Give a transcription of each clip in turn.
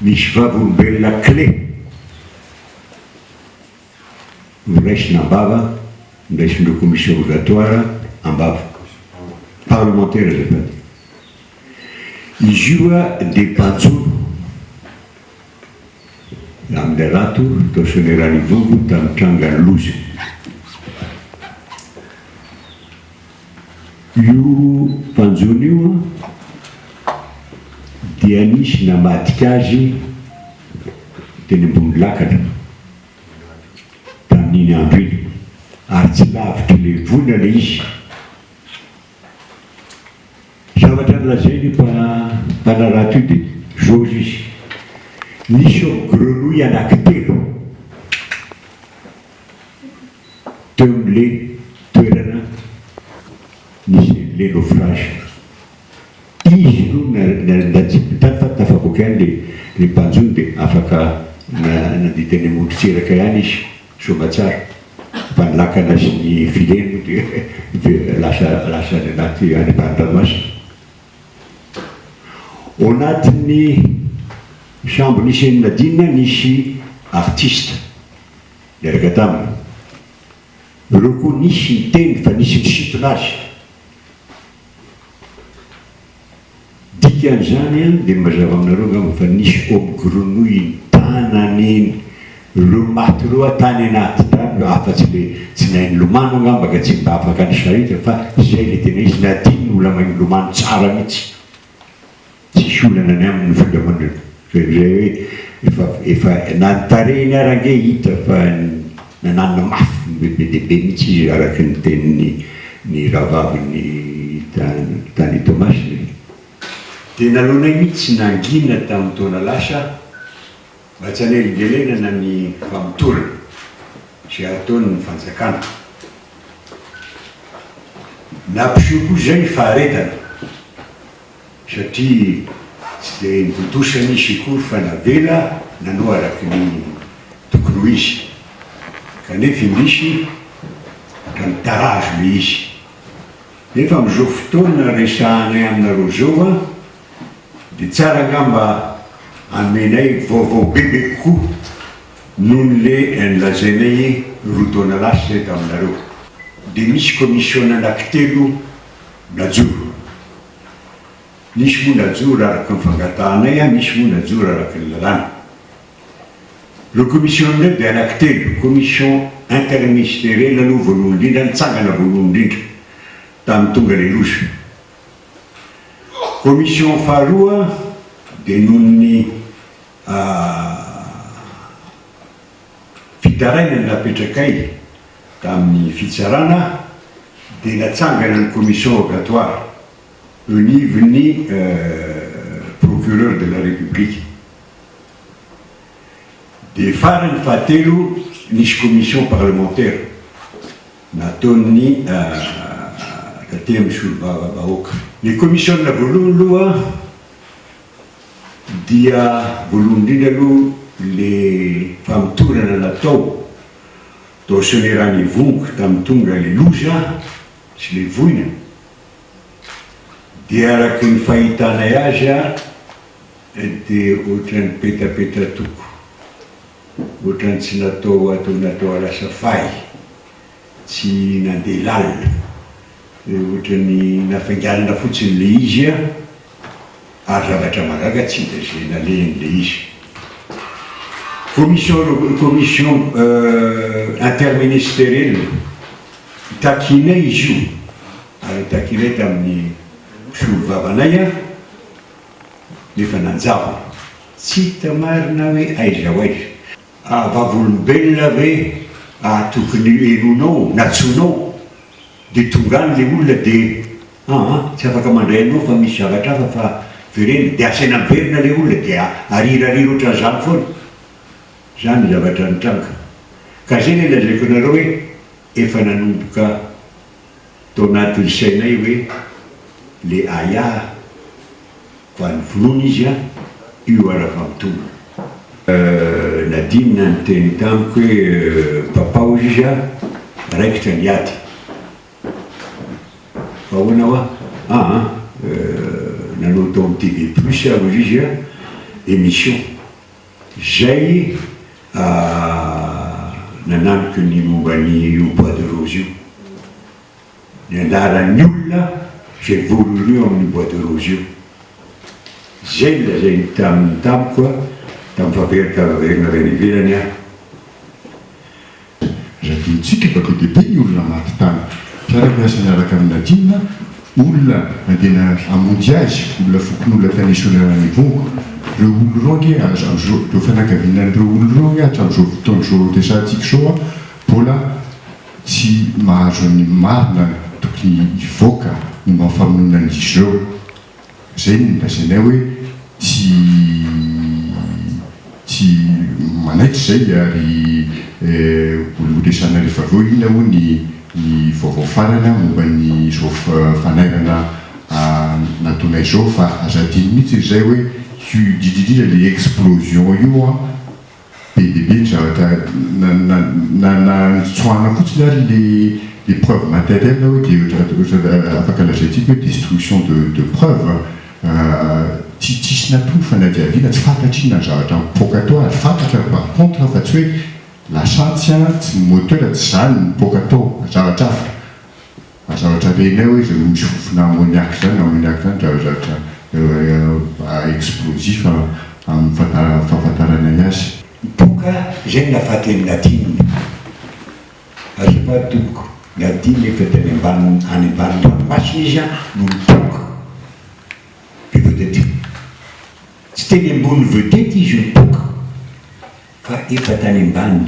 Misy vavolombelona kle noraisina am-bava, noraisin-dreo commission rogatoire am-bava. Parlemantera azafady. Izy io dia banjolo amin'ilay rato tao Soanierana Ivongo tamin'ny trangan'ny loza. Io mpanjono io dia nisy namadika azy teny ambony lakana tamin'iny andro iny ary tsy lavitr'i Levola ilay izy. Zavatra nolazain'io mpanarato io dia izao hoy izy, Nisy hao grenouille anankitelo. teo amin'ilay toerana nisy an'ilay naufrage. Izy ireo nandatsa-pita fa tafavoaka ihany ilay ilay mpanjono dia afaka nandidy any amoron-tsiraka ihany izy, soamatsara, fa ny lakana sy ny filets moa dia very lasa lasa any anaty any ambany ranomasina. Ao anatin'ny sambo nisy an'i Nadine nisy artiste. niaraka taminy. Ireo koa nisy niteny fa nisy nisintona azy. Dikan'izany an, dia mazava aminareo angamba fa nisy homme grenouille nitanany ireo maty ireo an tany anaty tany, afatsy le tsy nahay nilomano angamba ka tsy mba afaka nisarika fa izay le tena izy, na adinony mbola mahay milomano tsara mihitsy. Tsisy olana ny aminy ny fandrahonana fa izay hoe efa efa na ny tarehiny ary ange hita fa nananina mafy be be dia be mihitsy izy araka ny tenin'ny ny rahavaviny tany tany Toamasina e. Dia nalaonay mihitsy nangina tamin'ny taona lasa aho. Mba tsy hanelingelenana ny famotorana izay ataon'ny fanjakana. Nampiseho koa izay ny faharetana satria tsy dia nitontosa ny izy akory fa navela nanao araka ny tokony ho izy kanefa indrisy ka nitarazo ilay izy. Nefa amin'izao fotoana resahanay aminareo izao an! Dia tsara angamba anomenay vaovao bebe kokoa noho ny le any lazainay roa taona lasa izay taminareo. Dia misy commission anaky telo najoro. Nisy moa najoro araka ny fangatahanay an, nisy moa najoro araka ny lalàna. Ireo commission ireo dia anaky telo, commission interministerielle aloha voalohany indrindra, nitsangana voalohany indrindra tamin'ny tonga le loza. Commission faharoa dia noho ny fitarainana napetrakay tamin'ny fitsarana dia natsangana ny commission rogatoire eo anivon'ny Procureur de la République. Dia farany fahatelo nisy commission parlementaire. nataon'ny tatemy solovava bahoaka. Ny comisiona voalohany loha dia voalohany indrindra aloha le famotorana natao tao sonerany ivongo tamin'ny tonga le loza sy le voina dia araky ny fahitanay azy dia ohatran'ny petapeta toko. Ohatran'ny tsy natao ho ato natao lasa fay, tsy nandeha lalina, ohatran'ny nafainganana fotsiny ilay izy ary zavatra mahagaga tsy dia izay nalehany ilay izy. Commission euro, commission interministeriel takinay izy io ary takinay tamin'ny mpisolovava anay nefa nanjavona. Tsy hita marina hoe aiza ho aiza. Ah vavolombelona ve ah tokony henoinao na tsoinao de tonga any le olona de ah ah tsy afaka mandray anao fa misy zavatra hafa fa verena de asaina miverina le olona de arirariry otran'izany foana zany ny zavatra nitranga ka ze le lazaiko anareo hoe efa nanomboka Tao anatin'ny sainay hoe le Aya ko any vonoina izy a! Io ara fa mitombo. Nadine niteny tamiko hoe papaho izy a! Raikitra ny ady. Fa ahoana hoa? Aa! Nanao tao amin'ny TV plus aho hoy izy a! Emission. Izay nanamiko ny momba ny io bois de rose io, ny anjaran'ny olona izay voalohany eo amin'ny bois de rose io. Izay no lazainy taminy tamiko tamin'ny fampiharitam-baverina avy any ivelany aho. Radion-tsika fa be dia be ny olona maty tany, mpiara-miasa niaraka amin'ny Ladino, olona nandeha hamonjy azy, olona fokonolona tany Esoinana Nivongo. Ireo olona ireo ange hatramin'izao, ireo fianakaviana an'ireo olona ireo ange hatramin'izao fotoana izao iresahantsika izao mbola tsy mahazo ny marina tokony hivoaka momba ny famonoana an'izy ireo. Izay no nolazainay hoe tsy tsy manaitra izay ary horesahanay rehefa avy eo inona hoy ny ny vaovao farany momba an'izao fanairana nataonay izao fa aza adino mihitsy ry zay hoe huiuh, indrindra indrindra ilay explosion io an. Be dia be ny zavatra nantsoahana fotsiny ary ilay preuve matérielle hoe dia ohatrany afaka lazaintsika hoe destruction de preuve. Tsy tsisy natory fanadihadiana, tsy fantatr inona ny zavatra mipoaka tao ary fantatra par contre fa tsy hoe lasantsy, tsy ny moteur, tsy izany no mipoaka tao fa zavatra hafa. Aza hotrabenay hoe izao misy fofona ammoniac izany, ammoniac izany dia zavatra explosif amin'ny fahafantaranay azy. Doka izay ny nafaten'i Nadine. Azefa dok Nadine efa dia any ambanin'ny any ambanin'ny ranomasina izy an no nidoka dia tonga dia teo. Tsy teny ambonin'ny vedette izy nidoka fa efa tany ambany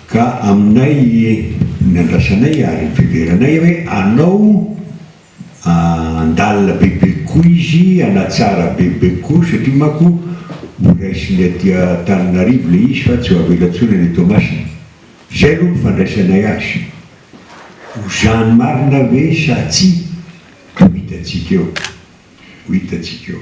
Ka aminay ny andrasanay ary fiverenay hoe anao andalina bebe koa izy, anatsara bebe koa satria manko ho raisiny aty Antananarivo ilay izy fa tsy ho avela intsony any Toamasina. Izay aloha ny fandraisanay azy. Ho zany marina ve sa tsia? Ho hitantsika eo. Ho hitantsika eo.